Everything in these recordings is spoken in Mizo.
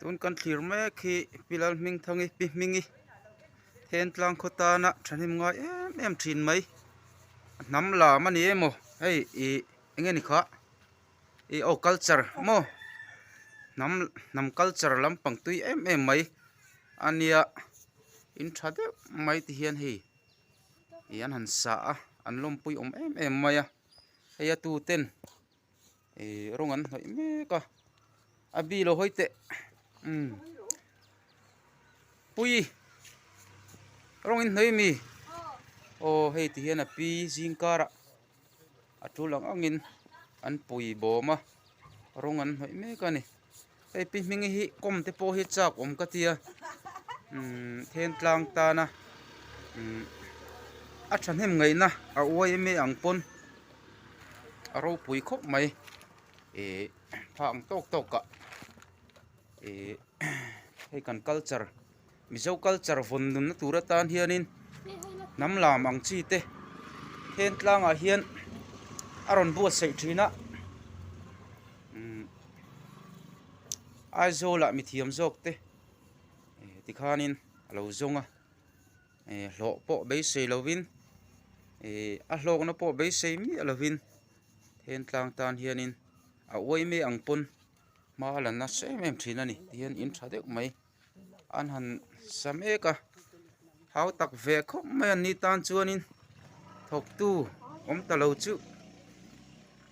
Tun kan thlir mek hi Pilal hming thangi pi hmingi then tlang khaw tana thahnem ngai em em thin mai a hnam lam ani em aw hei ih eng nge ni kha ih aw culture maw hnam hnam culture lampang tui em em mai a nia in tha deuh mai te hian hei ih an han sa a an lawmpui awm em em mai a hei a tu ten-- rawng an hnawih mek a a bi lo hawi teh umm puii rawng in hnawih ami aw hei ti hian a pi zing karah a ṭul ang angin an pui bawm a rawng an hnawih mek a ni. Hei pi hming hi kawm te pawh hi chak awm ka tia umm then tlang tan a umm a thahnem ngaih na a uai em e ang pawn a ropui khawp mai eh phah ang tawk tawk ah eh hei kan culture -- Mizo culture vawn nun na tur atan hianin hnam lam ang chi te then tlangah hian a rawn buatsaih thin a umm Aizawlah mi thiam zawk te eh ti khanin a lo zawng a eh hlawh pawh beisei lovin eh a hlawkna pawh beisei miah lovin then tlang tan hianin a uaime ang pawn hma a la nasa em em thin a ni tihian in tha deuh mai. An han sa mek a, hau tak ve khawp mai an nih tan chuanin thawk tu awm ta lo chu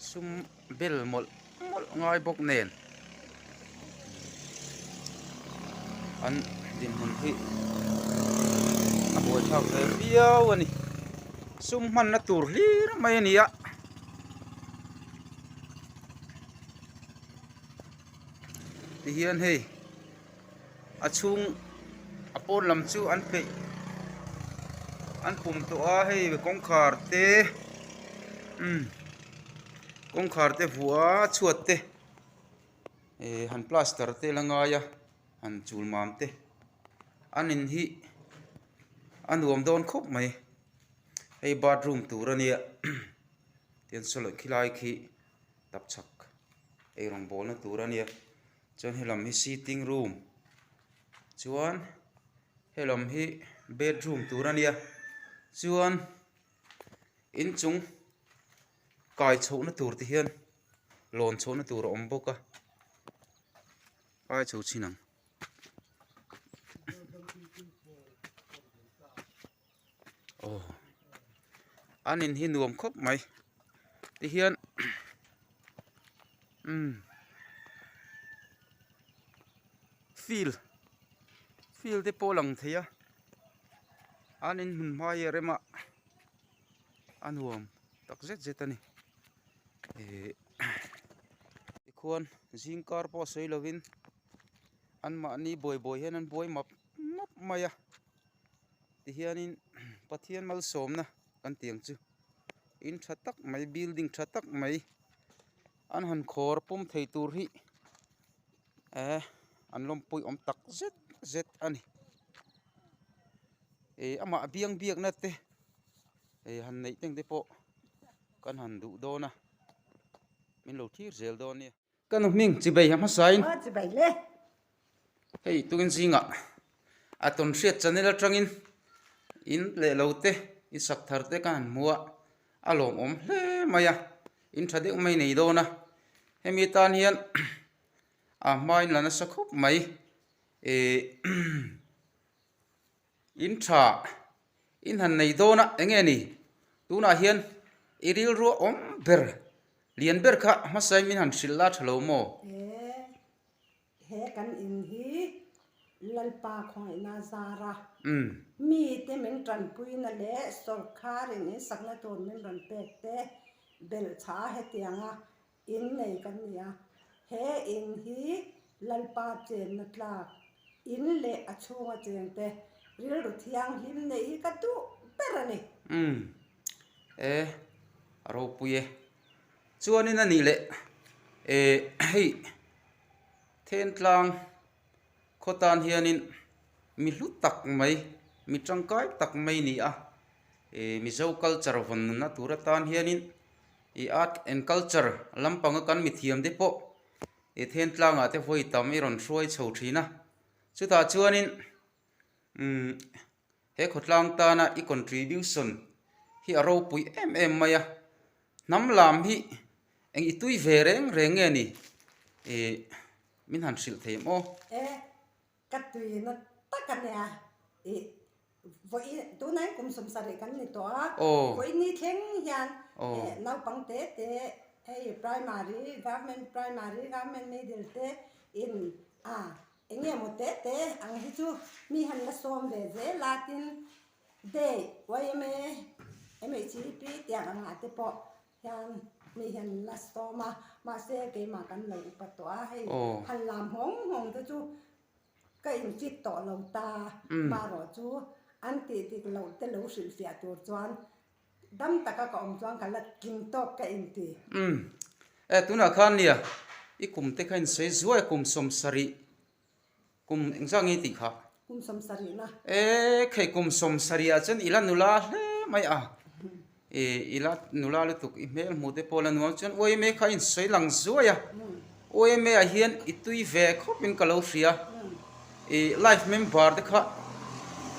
sum bel mawlh mawlh ngai bawk nen an dinhmun hi a buaithlak ve viau a ni. Sum hmanna tur hlir mai a ni a. Tihian hei a chhung a pawn lam chu an peih an pum tawh a hei kawngkhar te umm kawngkhar te vua chhuat te ehh han plaster te la ngai a han chul mam te an in hi a nuam dawn khawp mai hei bathroom tur a nia tian saw loh khi lai khi-- tap chhak ei rawn bawlna tur a nia chuan he lam hi sitting room chuan he lam hi bedroom tur a nia chuan inchung kai chhoh na tur te hian lawn chhoh na tur a awm bawk a kai chho chin ang. aw an in hi nuam khawp mai ti hian umm field field te pawh a lang thei a an in hun hmai a rem a a nuam tak zet zet a ni ihh tikhuan zing kar pawh sawi lovin anmahni buai buai hian an buai map map mai a. Tihianin Pathian malsawmna kan ti ang chu, in tha tak mai, building tha tak mai an han khawr pawm thei tur hi eh an lawmpuih awm tak zet zet a ni. Ih amah biang biakna te ih han neih teng te pawh kan han duh dawn a, min lo thlir zel dawn nia. Ka nu hming Chibei a hmasa in. Aw Chibei le. Hei tukin zingah a tawn hriat chanel atangin in leh lo te in sak thar te ka han hmu a, a lawm awm hle mai a, in tha deuh mai nei dawn a, hemi tan hian a hmain la nasa khawp mai. In tha in han nei dawn a eng nge ni? Tunah hian i rilrua awm ber lian ber kha hmasa in min han hrilh la tha lo maw? E, he kan in hi Lalpa khawngaihna zar a, mite min tanpuina leh sorkar in insakna tur min rawn pek te belhchah a hetianga In nei kan ni a, he in hi Lalpa chenna tlak in leh a chhunga cheng te rilru thianghlim neih hi ka duh ber a ni. Umm e, a ropui e. Chuanin a nih leh e, hei Thentlang khaw tan hianin mi hlu tak mai, mi tangkai tak mai ni a, e Mizo culture vawn nunna tura tan hianin, I art and culture lam panga kan mithiam te pawh i then tlangah te vawi tam i rawn hruai chho thin a. Chutah chuanin umm he khawtlang tana i contribution hi a ropui em em mai a. Hnam lam hi eng i tui ve reng reng nge ni? Ih min han hrilh thei maw? Ka tui na tak a nia i vawi tuna in kum sumsa rih kan ni tawh a, vawi ni thleng hian naupang te te hei primary, government primary, government middle te in eng nge maw te te ang hi chu mi han la sawm ve zel a tin day yma MHEP tiang ang ah te pawh Hian mi hian a stawm a, mahse keimah kan lo upa tawh a, hei han lam nghawng nghawng te chu ka in chit tawh lo ta, maherawh chu an tih dik loh te lo hrilh fiah tur chuan dam taka ka awm chuan ka la tling tawp ka in ti. Umm, e tunah khan nia, i kum te kha in sawi zuai a kum sawm sarih Kum eng zah nge tih kha? Kum sawmsarih la. E, khei kum sawmsarih ah chuan ila nula hle mai a. E, ila nula lutuk i hmel hmu te pawh la nuam chuan Uaime kha a insawi lang zuai a. Uaime ah hian i tui ve khawp in ka lo hria a. E, life member te kha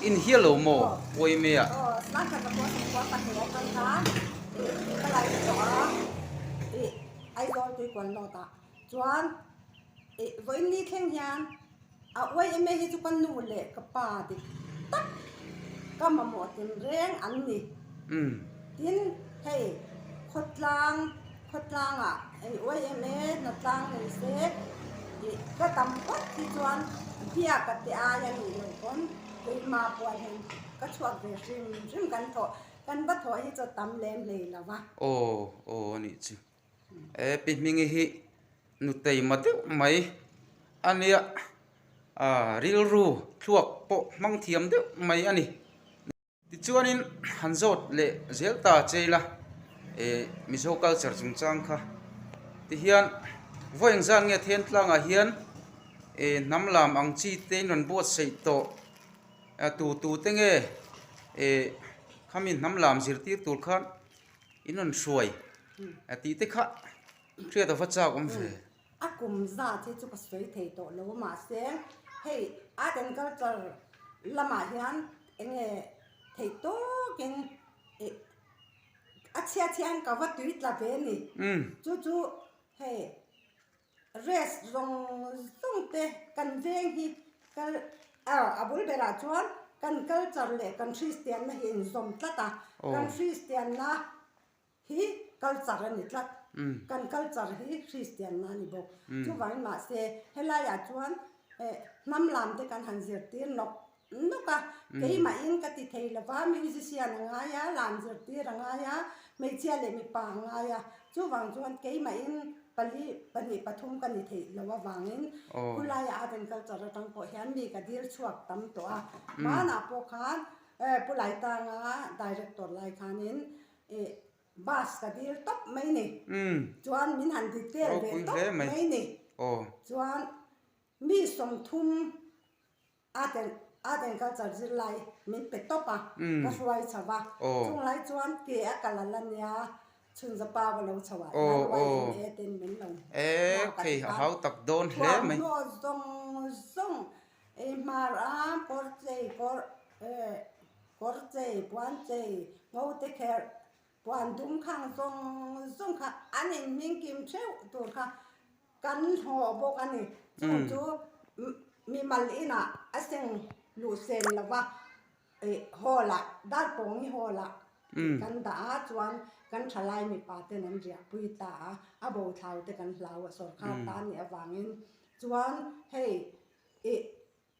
in hial lo maw Uaime ah? chuan ih vawiin ni thleng hian a uai em e hi chu ka nu leh ka pa dik tak ka mamawh tel reng an ni tin hei khawtlang khawtlang ah ih uai em e hna tlang nei se ih ka tam phawt hi chuan biak ka ti ai a nih loh pawn keimah pawh hian ka chhuak ve hrim hrim kan thawh kan va thawh hi chu a tam hle mai lo va. Aw aw a nih chu. He pi hmingi hi nuteima deuh mai a nia ah rilru thluak pawh hmang thiam deuh mai a ni. Tichuanin han zawt leh zel ta che ila eh Mizo culture chungchang kha tihian vawi eng zan nge then tlangah hian eh hnam lam ang chi te in rawn buatsaih tawh ah tu tute nge eh khami hnam lam zirtir tur khan. I nun hruai a tih te kha hriat a va chak awm ve. A kum zat hi chu ka sawi thei tawh lo mahse hei art and culture lamah hian eng nge thei tawk in ih a chhiat hian ka va tui tla ve a ni chu chu hei. Rest zawng zawng te kan veng hi kal ah a bul ber ah chuan kan culture leh kan hristian na hi a inzawm tlat a, kan hristian na hi culture a ni tlat, kan culture hi hristian na a ni bawk, chuvangin mahse helai ah chuan hnam lam te kan han zir tir nawk. Nawk a, keimahin ka ti thei lo va, musician a ngai a, lam zirtir a ngai a, hmeichhia leh mipa an ngai a, chuvang chuan keimahin pali, pahnih, pathum ka ni theih lo avangin khulaiah a rawn kal char atang pawh hian mi ka dil chhuak tam tawh a, hmanah pawh khan Pu Laitanga director lai khanin ih bus ka dil tawp mai ni, chuan min han detail ve tawp mai ni, chuan mi sawmthum. Aden, Aden kal char zir lai min pe tawp a, ka hruai chho va, chung lai chuan ke a kal a la nia, chhun za pa va lo chho a, nai ruai in e a ten min lo hma ta khan, thuam hnawh zawng zawng, ei hmar a kawr chei, kawr chei, puan chei, ngo te kher, puan dum khang zawng zawng kha an in hming kim theuh tur kha. Kan hnawh bawk a ni. Chung chu mimal inah a seng luh sem lo va, hall ah, dar pawngni hall ah kan dah a, chuan kan thalai mipa ten an riahpui ta a, a bo thlaute kan hlau a, sawrkar tan nih avangin. Chuan hei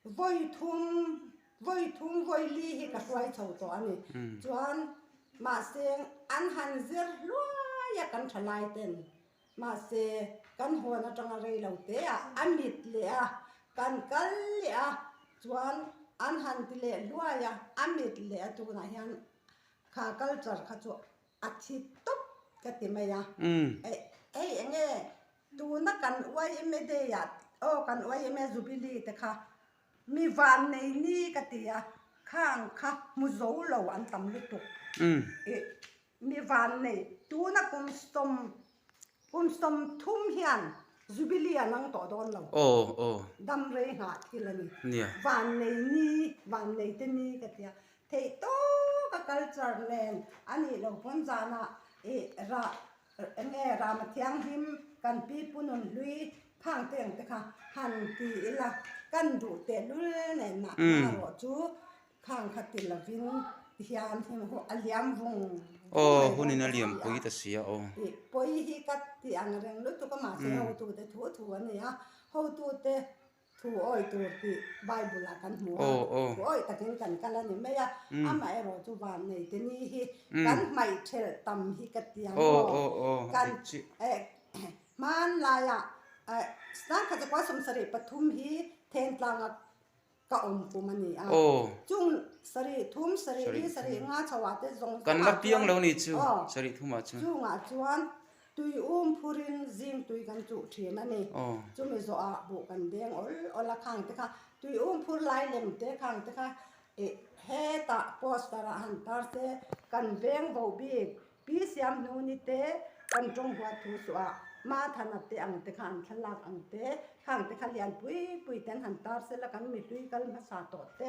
Vawi thum, vawi thum, vawi li hi ka hruai chho tawh a ni. Chuan mahse an han zir hluai a kan tha lai ten. Mahse kan hawn atanga rei lo teah a mit leh a, kan kal leh a. Chuan an han ti leh hluai a, a mit leh a tunah hian kha culture kha chu a thi tawp ka ti mai a. Hei enge? Tuna kan yma day ah oh kan yma jubilee te kha mi van nei ni ka ti a, khang kha hmu zo lo an tam lutuk ih mi van nei tuna kum sawm kum sawm thum hian jubilee an ang tawh dawn lo damrei nghah thil a ni van nei ni van nei te ni ka ti a, theih tawka culture nen a nih lo pawn zan ah ih rah Eng e Rama thianghlim kan pi punun hlui phang teng te kha han ti ila kan duh tehlul nen ah nang erawh chu phang kha ti lovin hian heng ho a liam vung vung mai dawn ka ti a, pawi ta si a aw ih pawi hi ka ti ang reng lutuk a mahse hotu te thu thu a ni a, hotu te. Thu awi tur tih Bible ah kan hmu a, thu awih takin kan kal a ni mai a. Amaherawh chu van nei te ni hi kan hmaih ṭhelh tam hi ka ti ang maw? Kan hmaan laia Snan Khatukua Sawm Sarih pathum hi Thengtlanga ka awm kum a ni a. Chung sarih thum, sarih li, sarih nga chhoh ah te zawng zawng ah chuan, aw, chungah chuan. Tui um phurin zingtui kan chuh thin a ni. Chumi zawhah buh kan beng awl awl a. Khangte kha tui um phur lai lem te khangte kha hetah poster ah han tar se kan veng bo bik Pi Siamhnu ni te kan tawng huat thu suh ah Ma Thana te ang te kha an thlalak ang te khangte kha lian pui pui te an han tar se la kan mihlui kal hmasa tawh te.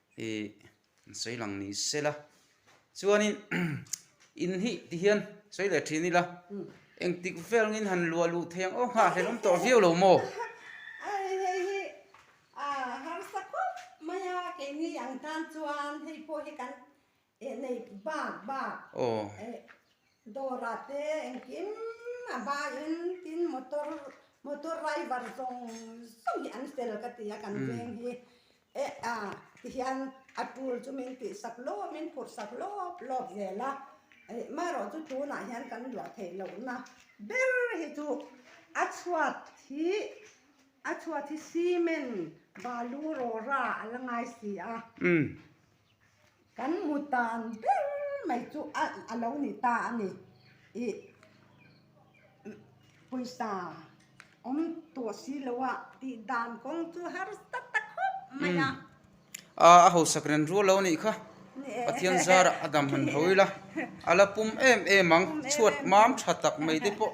Hi an sawi lang ni se la, chuanin in hi ti hian sawi leh thin ila, engtik vel ngin han luah luh thei ang aw nghah hlelawm tawh viau lo maw? Ai hei hi a harsa khawp mai a, keini ang tan chuan hei pawh hi kan Eh nei bak bak eh dawra te engkim a baiin tin motor motor raivar zawng zawng hi an fel ka ti a kan veng hi eh a tihian a tul chu min tihsak lawm min phurhsak lawp lawp zel a eh marawh chu tunah hian kan luah theih lohna ber hi chu a chhuat hi a chhuat hi cement balu rawra a la ngai si a. Kan hmu tan ber mai chu a lo ni ta a ni. Ih pawisa awm tawh si lo a tih dan kawng chu har tak tak hawk mai a. Aa, a hausak ren rual lo anih kha. Pathian zara a dam han haw ila, a la pum em em ang, chhuat mam tha tak mai te pawh.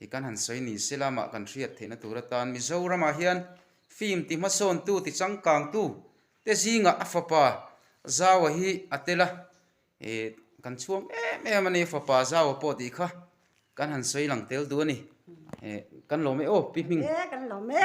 Hi kan han sawi ni se la mah kan hriat theihna tur atan Mizoramah hian film ti hmasawntu ti changkangtu te zingah a fapa Zaua hi a tel a, kan chhuang em em a ni a fapa Zaua pawh tih kha kan han sawi lang tel duh a ni. Kan lawm e aw pi hming. He kan lawm e.